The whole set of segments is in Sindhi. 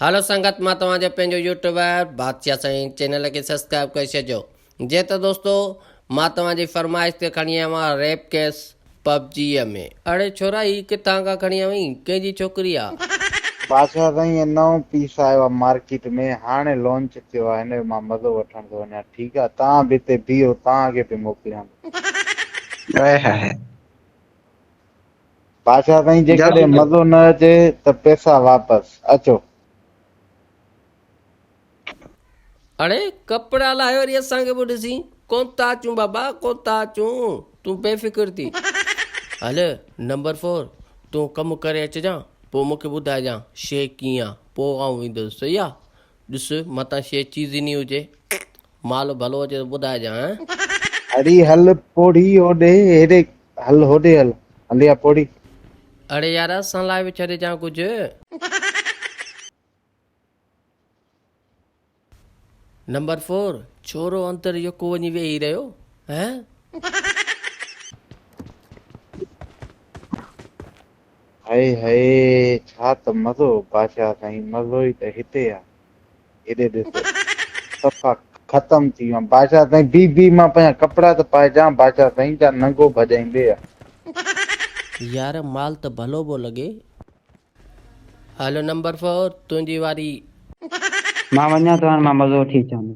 هلو سنگت مان توهان جو پنهنجو يوٽيوبر بادشاهه سائين چينل کي سبسڪرائب ڪري ڇڏجو جي ته دوستو مان توهان جي فرمائش تي کڻي آيو آهيان ريپ ڪيس پبجيء ۾. اڙي ڇورا هي ڪٿان کان کڻي آيو آهين ڪنهن جي ڇوڪري آ. بادشاھ سائين هي نئون پيس آيو آ مارڪيٽ ۾ هاڻي لونچ ٿيو آ هن جو مان مزو وٺڻ ٿو وڃان ٺيڪ آ توهان به هتي بيهو توهان کي به موڪليان ٿو. اهي هي. بادشاهه سائين جيڪڏهن مزو نه اچي ته پيسا واپس اچو. اڙي ڪپڙا لاهي وري اسان کي به ڏسين ڪونتا اچون بابا ڪونتا اچون تون بي فڪر ٿي هل نمبر فور تون ڪم ڪري اچجان پوء مونکي ٻڌائجان شي ڪيئن آ پوء آئون ويندس صحيح آ ڏس متان شي چيزني هجي مال ڀلو اچي ته ٻڌائجانء. اڙي هل پوڙهي هوڏي هيڏي هل هوڏي هل هل يا پوڙهي. اڙي يار اسان لاء به ڇڏجانء ڪجهه. نمبر فور ڇورو اندر يڪو وڃي ويهي رهيو هه. هائي هائي ڇا ته مزو بادشاهه سائين مزو ئي ته هتي آ. هيڏي ڏس ته صفا ختم ٿي ويم بادشاهه سائين بي بي مان پنهنجا ڪپڙا ته پائي جان بادشاهه سائين جا ننگو ڀڄائين ڏي ها. يار مال ته ڀلو ڀو لڳي. هلو نمبر فور تنهنجي واري. مان وڃان ٿو هاڻ مان مزو وٺي اچان ٿو.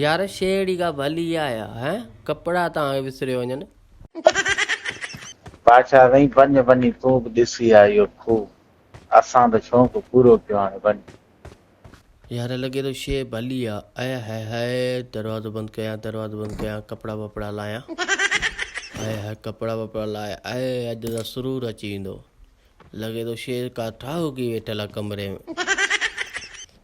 يار شي اهڙي ڪا ڀلي آهي ها هين ڪپڙا تان کي وسري وڃن. بادشاهه سائين وڃ وڃي تون به ڏسي آ اهو کوهه اسان ته شونق پورو ڪيو هاڻي وڃ. يار لڳي ٿو شي ڀلي آ اي هئي هئي دروازو بند ڪيان دروازو بند ڪيان ڪپڙا وپڙا لاهيان هئي هئي ڪپڙا وپڙا لاهي اي اڄ ته سرور اچي ويندو لڳي ٿو شي ڪا ٺاهوڪي ويٺل آ ڪمري ۾.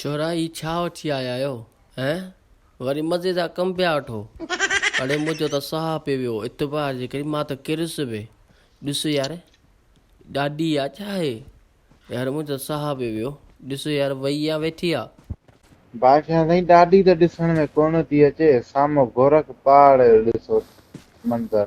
ڇورا هي ڇا وٺي آيا آهيو هين وري مزي جا ڪم پيا وٺو اڙي منهنجو ته ساهه پئي ويو اعتبار جي ڪري مان ته ڪريس به ڏس يار ڏاڏي يا ڇا هي يار منهنجو ساهه پئي ويو ڏس يار وئي يا ويٺي آ. بادشاهه سائين ڏاڏي ته ڏسڻ ۾ ڪونه ٿي اچي سامهون گورک پاڙ جو ڏسو منظر